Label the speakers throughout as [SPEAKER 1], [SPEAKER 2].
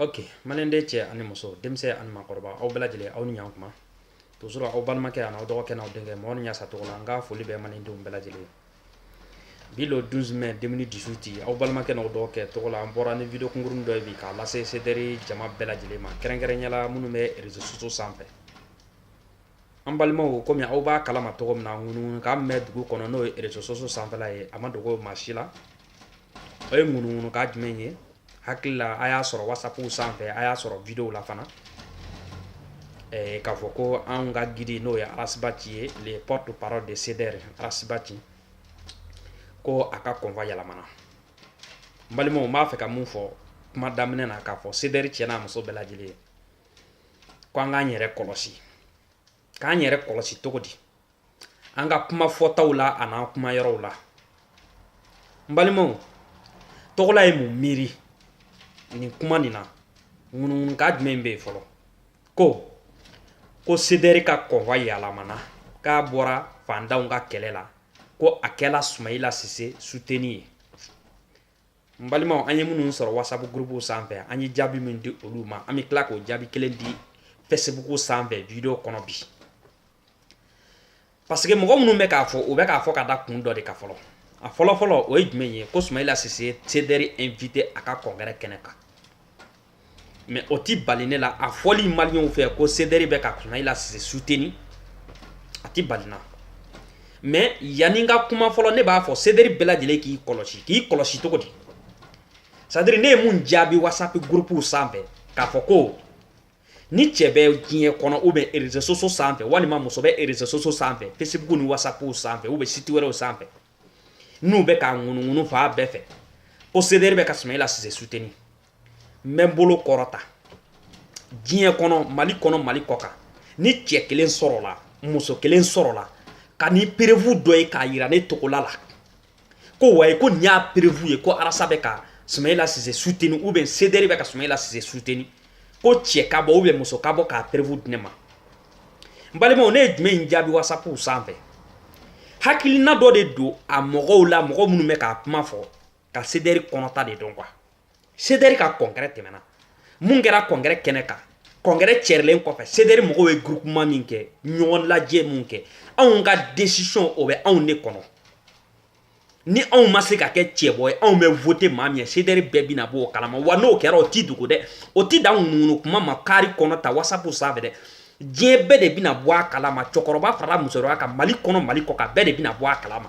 [SPEAKER 1] ok maliden cɛ ani muso denmisɛn ani maakɔrɔba aw bɛɛ lajɛlen aw ni ɲankuma toujours aw balimakɛ ani aw dɔgɔkɛ n'aw denkɛ mɔgɔ ni ɲasa togola n ka foli bɛ malidenw bɛɛ lajɛlen bi le 12 mai 2018 aw balimakɛ n'aw dɔgɔkɛ togola n bɔra ni video kunkuruni dɔ ye bi k'a lase sedɛri jama bɛɛ lajɛlen ma kɛrɛnkɛrɛnya la minnu bɛ réseaux sociaux sanfɛ An balimaw kɔmi aw b'a kalama cogo min na ŋunukan bɛ dugu kɔnɔ n'o ye réseaux sociaux sanfɛla ye a ma dogo maa si la o ye ŋunukan jumɛn ye hakili la a y'a sɔrɔ whatsapp sanfɛ a y'a sɔrɔ video la fana k'a fɔ ko an ka guide n'o ye ras bath ye le porte-parole de sedɛri ras bath ko a ka convoi yɛlɛmana n balimaw n b'a fɛ ka mun fɔ kuma daminɛ na k'a fɔ sedɛri cɛ n'a muso bɛɛ lajɛlen ye ko an k'an yɛrɛ kɔlɔsi k'an yɛrɛ kɔlɔsi cogo di an ka kuma fɔtaw la a n'an kuma yɔrɔw la n balimaw togola ye mun miiri nin kuma nin na ŋunuŋunukan jumɛn bɛ yen fɔlɔ ko ko sedɛri ka convoi yɛlɛmana k'a bɔra fandanw ka kɛlɛ la ko a kɛla sumayila sise suteni ye n balimaw an ye minnu sɔrɔ whatsapp gurupuw sanfɛ an ye jaabi min di olu ma an bɛ tila k'o jaabi kelen di facebook sanfɛ video kɔnɔ bi parce que mɔgɔ minnu bɛ k'a fɔ u bɛ k'a fɔ ka da kun dɔ de kan fɔlɔ a fɔlɔfɔlɔ o ye jumɛn ye ko sumayila sise sedɛri invité a ka congrès kɛnɛ kan mɛ o tɛ bali ne la a fɔli maliyɛnw fɛ ko sedɛri bɛ ka sumayila sise suteni a tɛ bali n na mɛ yanni n ka kuma fɔlɔ ne b'a fɔ sedɛri bɛɛ lajɛlen k'i kɔlɔsi k'i kɔlɔsi cogo di c'est-à-dire ne ye mun jaabi wasapi gurupuw sanfɛ k'a fɔ ko ni cɛ bɛ diɲɛ kɔnɔ ou bien réseaux sociaux sanfɛ walima muso bɛ réseaux sociaux sanfɛ fesibuku ni wasapuw sanfɛ ou bien site wɛrɛw sanfɛ n'u bɛ k'a ŋunuŋunu fan bɛɛ fɛ ko sedɛri bɛ ka sumayila sise suteni n bɛ n bolo kɔrɔta diɲɛ kɔnɔ mali kɔnɔ mali kɔ kan ni cɛ kelen sɔrɔla muso kelen sɔrɔla ka ni perefu dɔ ye k'a yira ne togola la ko wayi ko nin y'a perefu ye ko ras bɛ ka sumayila sise suteni ou bien sedɛri bɛ ka sumayila sise suteni ko cɛ ka bɔ ou bien muso ka bɔ k'a perefu di ne ma n balimaw ne ye jumɛn in jaabi wasapuw sanfɛ hakilina dɔ de don a mɔgɔw la mɔgɔ minnu bɛ k'a kuma fɔ ka sedɛri kɔnɔta de dɔn kuwa sedɛri ka congrès tɛmɛna mun kɛra congrès kɛnɛ kan congrès cɛrilen kɔfɛ sedɛri mɔgɔw ye groupement min kɛ ɲɔgɔn lajɛ min kɛ anw ka desisɔn o bɛ anw de kɔnɔ ni anw ma se ka kɛ cɛbɔ ye anw bɛ vote maa min ye sedɛri bɛɛ bina bɔ o kalama wa n'o kɛra o ti dogo dɛ o ti dan ŋunuŋunu kuma ma kari kɔnɔ ta wasapu sanfɛ dɛ diɲɛ bɛɛ de bina bɔ a kalama cɛkɔrɔba farala musokɔrɔba kan mali kɔnɔ mali kɔ kan bɛɛ de bina bɔ a kalama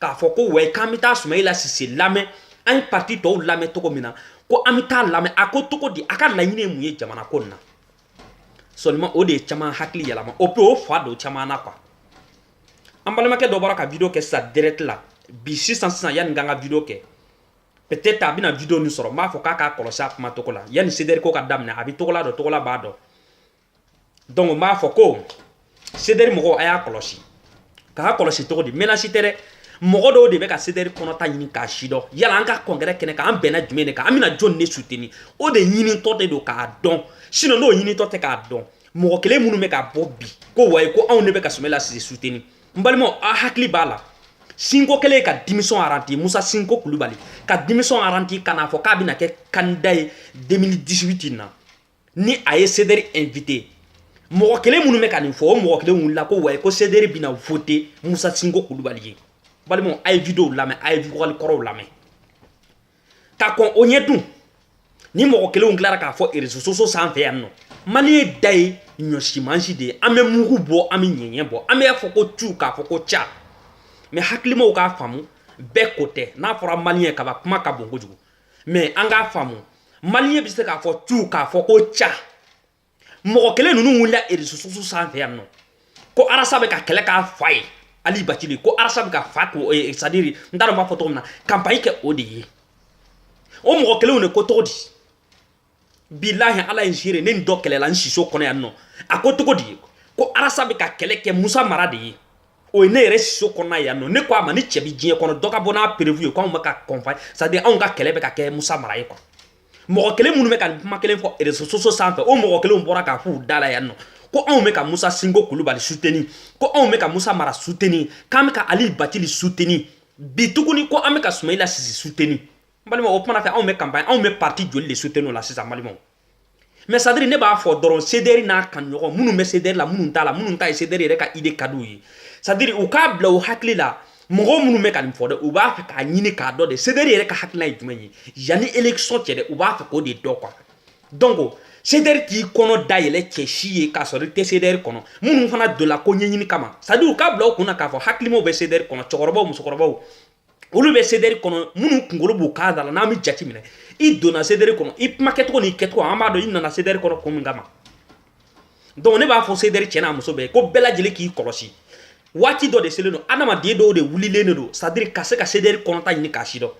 [SPEAKER 1] k'a fɔ ko wayi k'an bɛ taa sumayila sise lamɛn an ye parti tɔw lamɛn cogo min na ko an bɛ taa lamɛn a ko cogo di a ka laɲini ye mun ye jamana ko nin na seulement o de ye caman hakili yɛlɛma o pe o fa don caman na kuwa an balimakɛ dɔ bɔra ka video kɛ sisan direct la bi sisan sisan yanni n ka n ka video kɛ peut-être a bɛna video nin sɔrɔ n b'a fɔ k'a k'a kɔlɔsi a kuma cogo la yanni sedɛri ko ka daminɛ a bɛ togola dɔn togola b'a dɔn donc n b'a fɔ ko sedɛri mɔgɔw a y'a kɔlɔsi k'a kɔlɔsi cogo di menasi tɛ dɛ mɔgɔ dɔw de bɛ ka sedɛri kɔnɔta ɲini k'a sidɔn yala an ka kɔnkɛrɛ kɛnɛ kan an bɛnna jumɛn de kan an bɛna jɔn de suteni o de ɲinitɔ de don k'a dɔn sinɔn n'o ɲinitɔ tɛ k'a dɔn mɔgɔ kelen minnu bɛ ka bɔ bi ko wayi ko anw de bɛ ka sumayila sise suteni n balimaw a hakili b'a la sinko kɛlen ka dimisɔn aranti musa sinko kulubali ka dimisɔn aranti ka n'a fɔ k'a bɛna kɛ kandida ye 2018 in na ni a ye sederi invité mɔgɔ kelen minnu bɛ ka nin fɔ o mɔgɔ kelen wulila ko wayi ko sederi bɛna vote musa sinko kulubali ye balimaw a ye videow lamɛn a ye vokali kɔrɔw lamɛn ka kɔn o ɲɛ dun nin mɔgɔ kelenw tilara k'a fɔ réseaux sociaux sanfɛ yan nɔ maliyɛn da ye ɲɔsimansin de ye an bɛ mugu bɔ an bɛ ɲɛɲɛ bɔ an b'a fɔ ko cu k'a fɔ ko ca mɛ hakilimaw k'a faamu bɛɛ ko tɛ n'a fɔra maliyɛn kaba kuma ka bon kojugu mɛ an k'a faamu maliyɛn bɛ se k'a fɔ cu k'a fɔ ko ca mɔgɔ kelen ninnu wulila réseaux sociaux sanfɛ yan nɔ ko arasa bɛ ka kɛlɛ k'a fa ye ali bacili ko arasa bɛ ka fa ko eh, sadiri n t'a dɔn n b'a fɔ cogo min na kanpaɲi kɛ o de ye o mɔgɔ kelenw de ko cogo di bilahi ala ye n seere ne ni dɔ kɛlɛla n siso kɔnɔ yan nɔ a ko cogo di ko arasa bɛ ka kɛlɛ kɛ musa mara de ye o ye ne yɛrɛ siso kɔnɔna yan nɔ ne ko a ma ni cɛ bi diɲɛ kɔnɔ dɔ ka bɔ n'a preuve ye ko anw bɛ ka kɔnfa sadiri anw ka kɛlɛ bɛ ka kɛ musa mara ye kuwa mɔgɔ kelen minnu bɛ ka nin kuma kelen fɔ réseaux sociaux sanfɛ o mɔgɔ kelenw bɔra k'a f'u da la yan nɔ ko anw bɛ ka musa sinko kulubali suteni ko anw bɛ ka musa mara suteni k'an bɛ ka ali batili suteni bi tuguni ko an bɛ ka sumayila sise suteni n balimaw o kuma na fɛ anw bɛ kanpaɲi anw bɛ parti joli de soutenu la sisan balimaw mɛ sadiri ne b'a fɔ dɔrɔn sederi n'a kan ɲɔgɔn minnu bɛ sederi la minnu t'a la minnu ta ye sederi yɛrɛ ka ide ka di u ye sadiri u k'a bila u hakili la mɔgɔ minnu bɛ ka nin fɔ dɛ u b'a fɛ k'a ɲini k'a dɔn de sederi yɛrɛ ka hakilina ye jumɛn ye yanni election cɛ dɛ u b'a fɛ k'o de dɔn kuwa donc sederi t'i kɔnɔ dayɛlɛ cɛ si ye k'a sɔrɔ i tɛ sederi kɔnɔ minnu fana donna ko ɲɛɲini kama sadiri u k'a bila u kun na k'a fɔ hakilimaw bɛ sederi kɔnɔ cɛkɔrɔbaw musokɔrɔbaw olu bɛ sederi kɔnɔ minnu kunkolo b'u kan da la n'an bɛ jate minɛ i donna sederi kɔnɔ i kuma kɛcogo n'i kɛcogo an b'a dɔn i nana sederi kɔnɔ kun min kama donc ne b'a fɔ sederi cɛ n'a muso bɛɛ ko bɛɛ lajɛlen k'i kɔlɔsi waati dɔ de selen don adamaden dɔw de wulilen de don sadiri ka se ka sederi kɔnɔta ɲini k'a sidɔn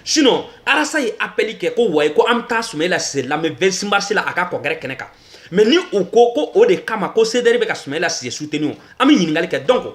[SPEAKER 1] sinon arasa ye apɛli kɛ ko wayi ko an bɛ taa sumayila sise lamɛn 26 mars la a ka kɔnkɛrɛ kɛnɛ kan mɛ ni u ko ko o de kama ko sederi bɛ ka sumayila sise suteni o an bɛ ɲininkali kɛ donc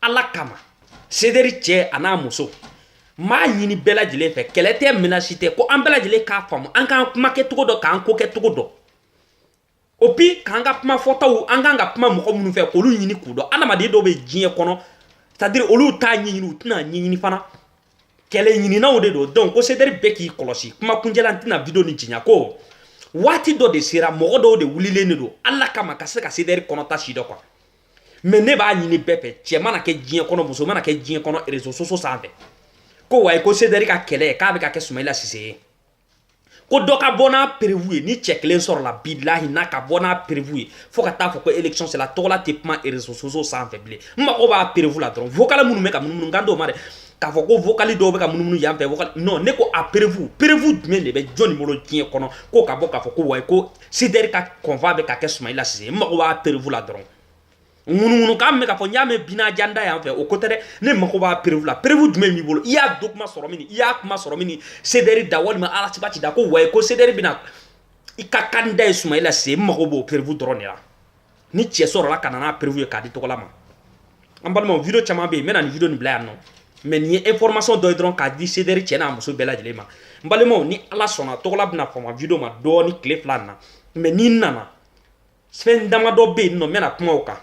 [SPEAKER 1] ala kama sedɛri cɛ a n'a muso n b'a ɲini bɛɛ lajɛlen fɛ kɛlɛ tɛ menace tɛ ko an bɛɛ lajɛlen k'a faamu an k'an kuma kɛcogo dɔn k'an ko kɛcogo dɔn et puis k'an ka kuma fɔtaw an k'an ka kuma mɔgɔ minnu fɛ k'olu ɲini k'u dɔn adamaden dɔw bɛ diɲɛ kɔnɔ c'est à dire olu t'a ɲɛɲini u tɛna ɲɛɲini fana kɛlɛ ɲininaw de don donc ko sedɛri bɛɛ k'i kɔlɔsi kuma kuncɛla n tɛna video nin janya ko waati dɔ de sera mɔgɔ dɔw de wulilen de don ala kama ka se ka sedɛri kɔnɔta si dɔn quoi mais ne b'a ɲini bɛɛ fɛ cɛ mana kɛ diɲɛ kɔnɔ muso mana kɛ diɲɛ kɔnɔ réseaux sociaux sanfɛ ko wayi ko sedɛri ka kɛlɛ k'a bɛ ka kɛ sumayila sise ye ko dɔ ka bɔ n'a perewu ye ni cɛ kelen sɔrɔla bilahi n'a ka bɔ n'a perewu ye fo ka taa fɔ ko election sela tɔgɔla tɛ kuma réseaux sociaux sanfɛ bilen n mago b'a perewu la dɔrɔn vocal minnu bɛ ka munumunu n kan t'o ma dɛ k'a fɔ ko vocal dɔw bɛ ka munumunu yan fɛ non ne ko a perewu perewu jumɛn de bɛ jɔni bolo diɲɛ kɔnɔ ko ka bɔ k'a fɔ ko wayi ko sedɛri ka combat bɛ ka kɛ sumayila sise n mago b'a perewu la dɔrɔn ŋunuŋunukan bɛ ka fɔ n y'a mɛn bina janda yan fɛ o ko tɛ dɛ ne mago b'a perewu la perewu jumɛn b'i bolo i y'a document sɔrɔ mini i y'a kuma sɔrɔ mini sedɛri da walima ras bath da ko wayi ko sedɛri bɛna i ka candidat ye sumayila sise n mago b'o perewu dɔrɔn de la ni cɛ sɔrɔla ka na n'a perewu ye k'a di tɔgɔla ma an balimaw video caman bɛ yen n bɛna nin video nin bila yan nɔ mais nin ye information dɔ ye dɔrɔn k'a di sedɛri cɛ n'a muso bɛɛ lajɛlen ma n balimaw ni ala sɔnna tɔgɔla bɛna fama video ma dɔɔni tile fila na mais ni n nana fɛn damadɔ bɛ yen nɔ n bɛna kuma o kan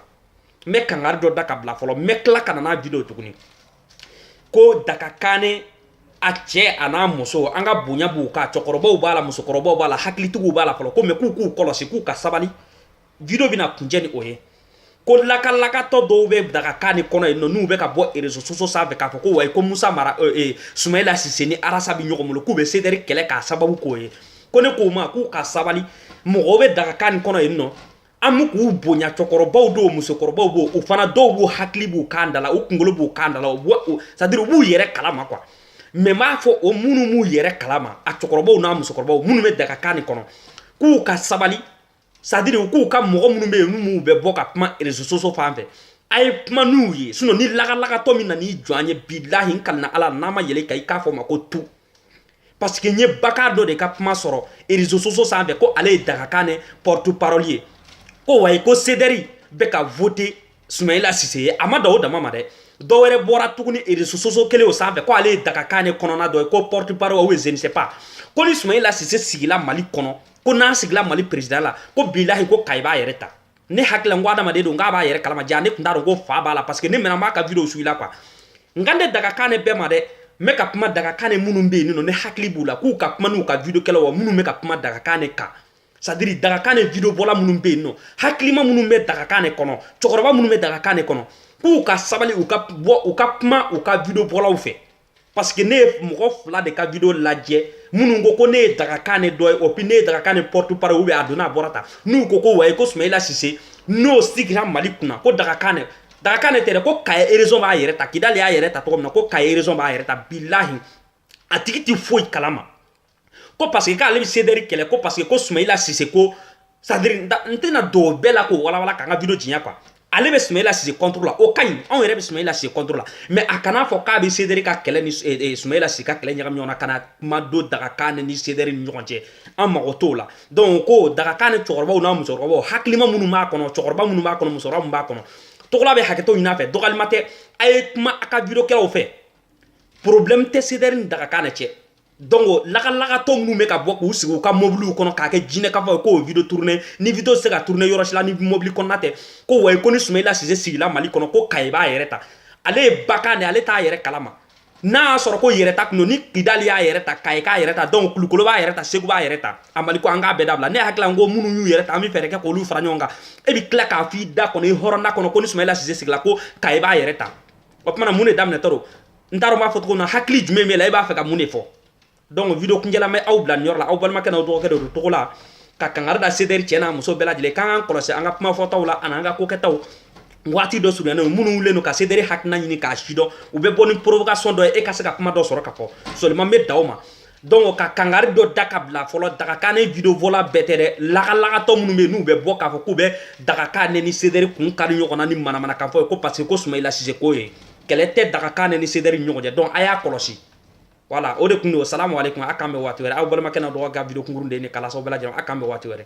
[SPEAKER 1] n bɛ kangari dɔ da ka bila fɔlɔ n bɛ tila ka na n'a video tuguni ko dagakanɛ a cɛ a n'a muso an ka bonya b'u kan cɛkɔrɔbaw b'a la musokɔrɔbaw b'a la hakilitigiw b'a la fɔlɔ ko mais k'u k'u kɔlɔsi k'u ka sabali video bɛna kuncɛ ni o ye ko lakalakatɔ dɔw bɛ dagakanɛ kɔnɔ yen nɔ n'u bɛ ka bɔ réseaux sociaux sanfɛ k'a fɔ ko wayi ko musa mara euh, euh, sumayila sise ni ras bɛ ɲɔgɔn bolo k'u bɛ sedɛri kɛlɛ k'a sababu k'o ye ko ne k'o ma k'u ka sabali mɔgɔw bɛ dagakanɛ kɔnɔ yen nɔ an bɛ k'u bonya cɛkɔrɔbaw dɔw musokɔrɔbaw b'o o fana dɔw b'u hakili b'u kan da la u kunkolo b'u kan da la u b'u c'est à dire u b'u yɛrɛ kalama quoi mais n b'a fɔ o minnu b'u yɛrɛ kalama a cɛkɔrɔbaw n'a musokɔrɔbaw minnu bɛ dagakanɛ kɔnɔ k'u ka sabali c'est à dire u k'u ka mɔgɔ minnu bɛ yen n'u bɛ bɔ ka kuma réseaux sociaux fan fɛ a ye kuma n'u ye sinon ni lakalakatɔ min nan'i jɔ an ye bilahi n kalina ala n'a ma yɛlɛ a kan i k'a fɔ o ma ko tu parce que n ye baka dɔ de ka kuma sɔrɔ réseaux sociaux sanfɛ ko ale ye dagakanɛ porte parole ye ko wayi ko sedɛri bɛ ka voter sumayila sise ye a ma dan o dama ma dɛ dɔ wɛrɛ bɔra tuguni réseaux sociaux kelen o sanfɛ ko ale ye dagakanɛ kɔnɔna dɔ ye ko porte parole ou je ne sais pas ko ni sumayila sise sigila mali kɔnɔ ko n'a sigila mali président la ko bilahi ko kayi b'a yɛrɛ ta ne hakili la n ko adamaden don k'a b'a yɛrɛ kalama jaa ne tun t'a dɔn ko fa b'a la parce que ne mɛnna n b'a ka video suivre la quoi n kan tɛ dagakane bɛɛ ma dɛ n bɛ ka kuma dagakane minnu bɛ yen nɔ ne hakili b'u la k'u ka kuma n'u ka video kɛlaw wa minnu bɛ ka kuma dagakane kan c'est à dire dagakane video bɔla minnu bɛ yen nɔ hakilima minnu bɛ dagakane kɔnɔ cɛkɔrɔba minnu bɛ dagakane kɔnɔ k'u ka sabali u ka bɔ u ka kuma u ka video bɔlaw fɛ parce que ne ye mɔgɔ fila de ka video lajɛ minnu ko ko ne ye dagakane dɔ ye et puis ne ye dagakane porte parole ou bien a donna a bɔra ta n'u ko ko wayi ko sumayila sise n'o sigira mali kunna ko dagakane dagakane tɛ dɛ ko kayi région b'a yɛrɛ ta kidali y'a yɛrɛ ta cogo min na ko kayi région b'a yɛrɛ ta bilahi a tigi tɛ foyi kalama ko parce que k'ale bɛ sedɛri kɛlɛ ko parce que ko sumayila sise ko c'est à dire n tɛna don o bɛɛ la k'o walawala k'an ka video janya quoi ale bɛ sumayila sise contre la o ka ɲi anw yɛrɛ bɛ sumayila sise contre la mais a kana fɔ k'a bɛ sedɛri ka kɛlɛ ni eh, eh, sumayila sise ka kɛlɛ ɲagami ɲɔgɔn na ka na kuma don dagakane ni sedɛri ni ɲɔgɔn cɛ an mago t'o la donc ko dagakane cɛkɔrɔbaw n'a musokɔrɔbaw hakilima minnu b'a kɔnɔ cɛkɔrɔba minnu b'a kɔnɔ musokɔrɔba minnu b'a kɔnɔ togola bɛ hakɛto ɲini a fɛ dɔgɔyalima tɛ a ye kuma a ka video kɛlaw fɛ problème tɛ sedɛri ni dagakane cɛ donc lagalagatɔ minnu bɛ ka bɔ k'u sigi u ka mɔbiliw kɔnɔ k'a kɛ jinɛ k'a fɔ k'o video tourner ni video se ka tourner yɔrɔ si la ni mɔbili kɔnɔna tɛ ko wayi ko ni sumayila sise sigila mali kɔnɔ ko kayi b'a yɛrɛ ta ale ye bagan de ale t'a yɛrɛ kalama n'a y'a sɔrɔ ko yɛrɛ ta tun don ni kidali y'a yɛrɛ ta kayi k'a yɛrɛ ta donc kulukoro b'a yɛrɛ ta segu b'a yɛrɛ ta a mali ko an k'a bɛɛ dabila ne hakili la n ko minnu y'u yɛrɛ ta an bɛ fɛɛrɛ kɛ k'olu fara ɲɔgɔn kan e bɛ tila k'a f'i da kɔnɔ i hɔrɔnda kɔnɔ ko ni sumayila sise sigila ko kayi b'a yɛrɛ ta o tuma na mun de daminɛtɔ don n t'a dɔn n b'a fɔ cogo min na hakili jumɛn b'e la i b'a fɛ ka mun de fɔ donc video kuncɛla n bɛ aw bila nin yɔrɔ la aw balimakɛ n'aw dɔgɔkɛ de don togola ka kangari da sedɛri cɛ n'a muso bɛɛ lajɛlen k'an k'an kɔlɔsi an ka kuma fɔtaw la ani an ka kokɛtaw waati dɔ surunyalen don minnu wulilen don ka sedɛri hakilina ɲini k'a sidɔn u bɛ bɔ ni provocation dɔ ye e ka se ka kuma dɔ sɔrɔ ka fɔ seulement n bɛ da o ma donc ka kangari dɔ da ka bila fɔlɔ dagakane video bɔla bɛɛ tɛ dɛ lagalagatɔ minnu bɛ yen n'u bɛ bɔ k'a fɔ k'u bɛ dagakane ni sedɛri kun kari ɲɔgɔn na ni manamanakan fɔ ye ko parce que ko sumayila sise ko ye kɛlɛ tɛ dagakane ni sedɛri ɲɔgɔn cɛ donc a y'a kɔlɔsi voilà o de kun don salamu aleykum a k'an bɛn waati wɛrɛ aw balimakɛ n'aw dɔgɔ ka video kunkurun de ye nin kalasaw bɛɛ lajɛlen a k'an bɛn waati wɛrɛ